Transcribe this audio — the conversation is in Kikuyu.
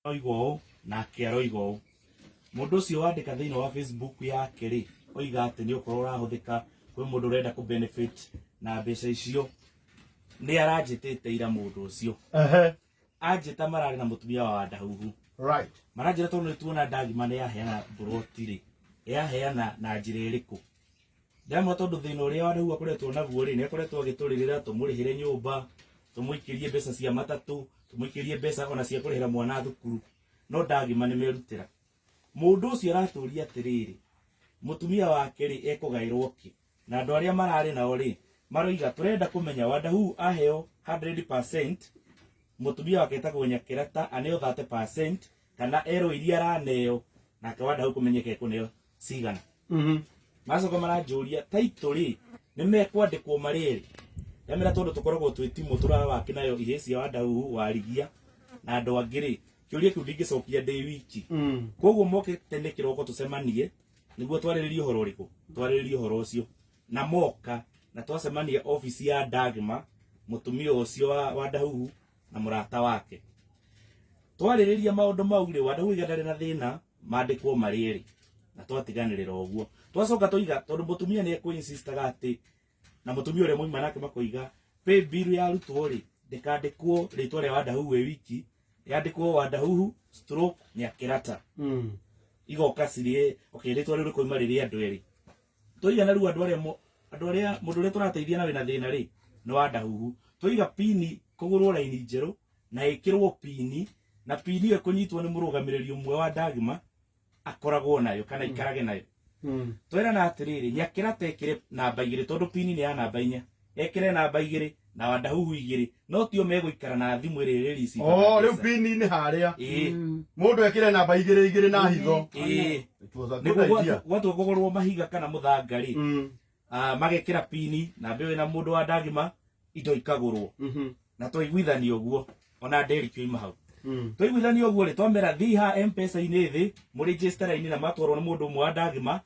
Oiga ũũ nake aroiga ũũ. Mũndũ ũcio wandĩka thĩinĩ wa Facebook yake rĩ, oiga atĩ nĩ ũkorwo ũrahũthĩka kwĩ mũndũ ũrenda kũ benefit na mbeca icio. Nĩ aranjĩtĩte ira mũndũ ũcio. Ehe. Anjĩta mararĩ na mũtumia wa ndahuhu. Right. Maranjĩra tondũ nĩ tuona ndagima nĩ yaheana mburoti rĩ, yaheana na njĩra ĩrĩkũ? Ndema tondũ thĩna ũrĩa wa Ndau akoretwo naguo rĩ, nĩ akoretwo agĩtũrĩrĩra tũmũrĩhĩre nyũmba, tũmũikĩrie mbeca cia matatũ, tũmũikĩrie mbeca ona cia kũrĩhĩra mwana thukuru, no ndagima nĩ merutĩra. Mũndũ ũcio aratũria atĩrĩrĩ, mũtumia wake rĩ, ekũgaĩrwo kĩ? Na andũ arĩa mararĩ nao rĩ, maroiga tũrenda kũmenya Wadahu aheo 100%, mũtumia wake etagwo Nyakerata aneo 30% kana erwo iria araneo nake Wadahu kũmenyeka ekũneo cigana macoka maranjũria taitũ rĩ nĩ mekwandĩkwo marĩ erĩ ndamera tondũ tũkoragwo twĩ timũ tũrawaki nayo ihĩ cia wandau warigia na andũ angĩ rĩ kĩũria kĩu ndingĩcokia ndĩ wiki koguo moke tene kĩroko tũcemanie nĩguo twarĩrĩrie ũhoro ũrĩkũ twarĩrĩrie ũhoro ũcio na moka na twacemania obici ya ndagma mũtumia ũcio wa, wa ndahuhu na mũrata wake twarĩrĩria maũndũ mau rĩ wandahuhu iga ndarĩ na thĩna mandĩkwo marĩ erĩ na twatiganĩrĩra ũguo twacoka tũiga tondũ mũtumia nĩ ekwĩinsistaga atĩ na mũtumia ũrĩa mwaima nake makoiga pay bill ya arutwo rĩ ndĩkandĩkwo rĩtwa rĩa wandahuhu ĩ wiki yandĩkwo wandahuhu stroke nyakĩrata igoka cirĩ okay rĩtwa rĩu rĩkoima rĩrĩ andũ erĩ Tũiga na rĩu andũ arĩa mo- andũ arĩa mũndũ ũrĩa tũrateithia na wĩna thĩna rĩ nĩ wa ndahuhu tũiga pini kũgũrwo raini njerũ na ĩkĩrwo pini na pini ĩyo kũnyitwo nĩ mũrũgamĩrĩri ũmwe wa ndagima akoragwo nayo kana ikarage nayo twerana atĩrĩrĩ nyakĩra tekĩre namba igĩrĩ tondũ pini nĩ ya namba inya ekire namba igĩrĩ na wandahuhu igĩrĩ no tio megũikara na thimũ ĩrĩ rĩrĩci Oh, rĩu pini-inĩ harĩa ĩĩ mũndũ ekĩre namba igĩrĩ igĩrĩ na hitho ĩĩ It was a good nĩguo idea. gwatu- gwatua kũgũrwo mahiga kana mũthanga rĩ Mm, ah, magekĩra pini na mbĩo ĩna mũndũ wa ndagima indo ikagũrwo mhm, na twaiguithania ũguo ona nderikio ima hau mm. twaiguithania ũguo rĩ twamera thiha mpesa-inĩ thĩ mũrĩnjĩstara-inĩ na matwarwo nĩ mũndũ ũmwe wa ndagima